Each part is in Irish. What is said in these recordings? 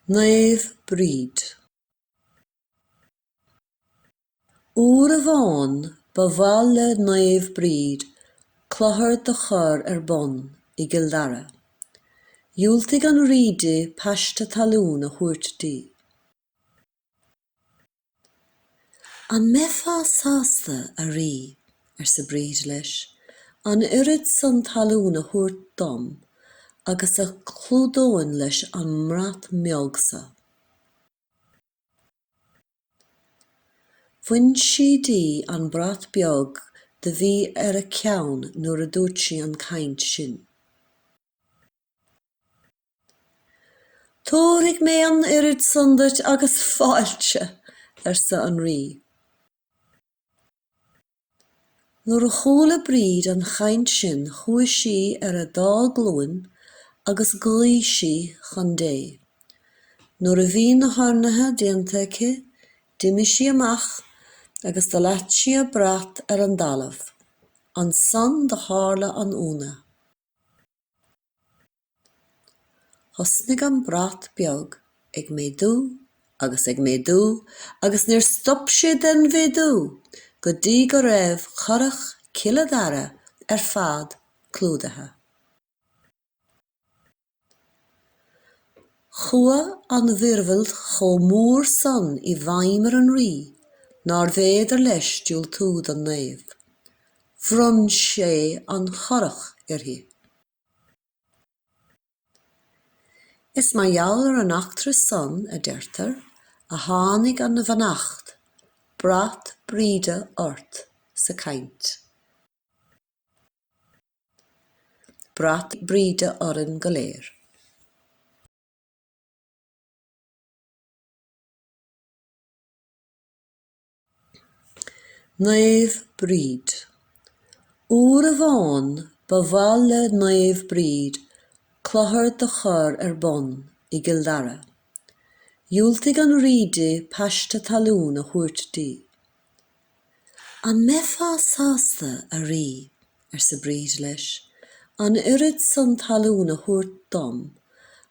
Naomh Bríd. Uair amháin ba mhaith le Naomh Bríd clochar do chur ar bun i gCill Dara. Dhiúltaigh an rí di paiste talún a thabhairt di. An mbeifeá sásta, a rí, arsa Bríd leis, an oiread san talún a thabhairt dom agus a chlúdóinn leis an mbrat mbeag so? Bhain sí di an brat beag do bhí ar a ceann nuair a dúirt sí an chaint sin. Tabharfaidh mé an oiread san duit agus fáilte, arsa an Rí. Nuair a chuala Bríd an chaint sin chuaigh sí ar a dá glúin agus ghlaoigh sí chun Dé. Nuair a bhí na hurnaithe déanta aici d'imigh sí amach agus do leat sí a brat ar an dtalamh. Ansan do tharla an ionadh. Thosnaigh an brat beag ag méadú agus ag méadú agus níor stop sé den mhéadú go dtí go raibh Currach Cille Dara ar fad clúdaithe. Chuaigh an mhíorúilt chomh mór san i bhfeidhm ar an rí nárbh fhéidir leis diúltú don naomh. Bhronn sé an Churrach uirthi. Is mar gheall ar an eachtra san, a deirtear, a tháinig an bheannacht, brat Bríde ort sa chaint. Brat Bríde orainn go léir. Naomh Bríd. Uair amháin ba mhaith le Naomh Bríd clochar do chur ar bun i gCill Dara. Dhiúltaigh an rí di paiste talún a thabhairt di. An mbeifeá sásta, a rí, arsa Bríd leis, an oiread san talún a thabhairt dom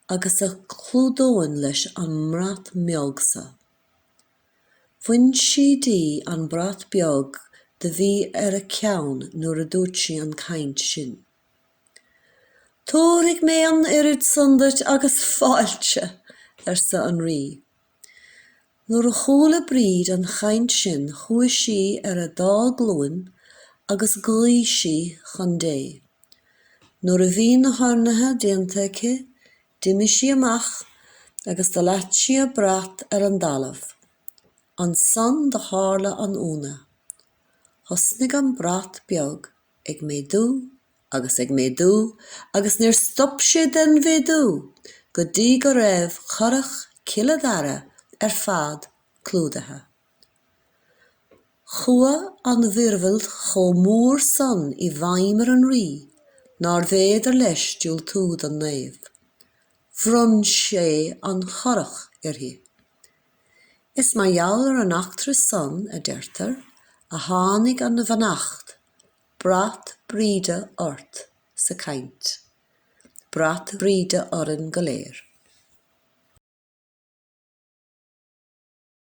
agus a chlúdóinn leis an mbrat mbeag so? Bhain sí di an brat beag do bhí ar a ceann nuair a dúirt sí an chaint sin. Tabharfaidh mé an oiread san duit agus fáilte! arsa an Rí. Nuair a chuala Bríd an chaint sin chuaigh sí ar a dá glúin agus ghlaoigh sí chun Dé. Nuair a bhí na hurnaithe déanta aici D'imigh sí amach agus do leat sí a brat ar an dtalamh. Ansan do thárla an ionadh. Thosnaigh an brat beag ag méadú agus ag méadú agus níor stop sé den mhéadú go dtí go raibh currach Cille Dara ar fad clúdaithe. Chuaigh an mhíorúilt chomh mór san i bhfeidhm ar an rí nárbh fhéidir leis diúltú don naomh. Bhronn sé an Currach uirthi. Is mar gheall ar an eachtra san, a deirtear, a tháinig an bheannacht, brat Bríde ort sa chaint. Brat Bríde orainn go léir.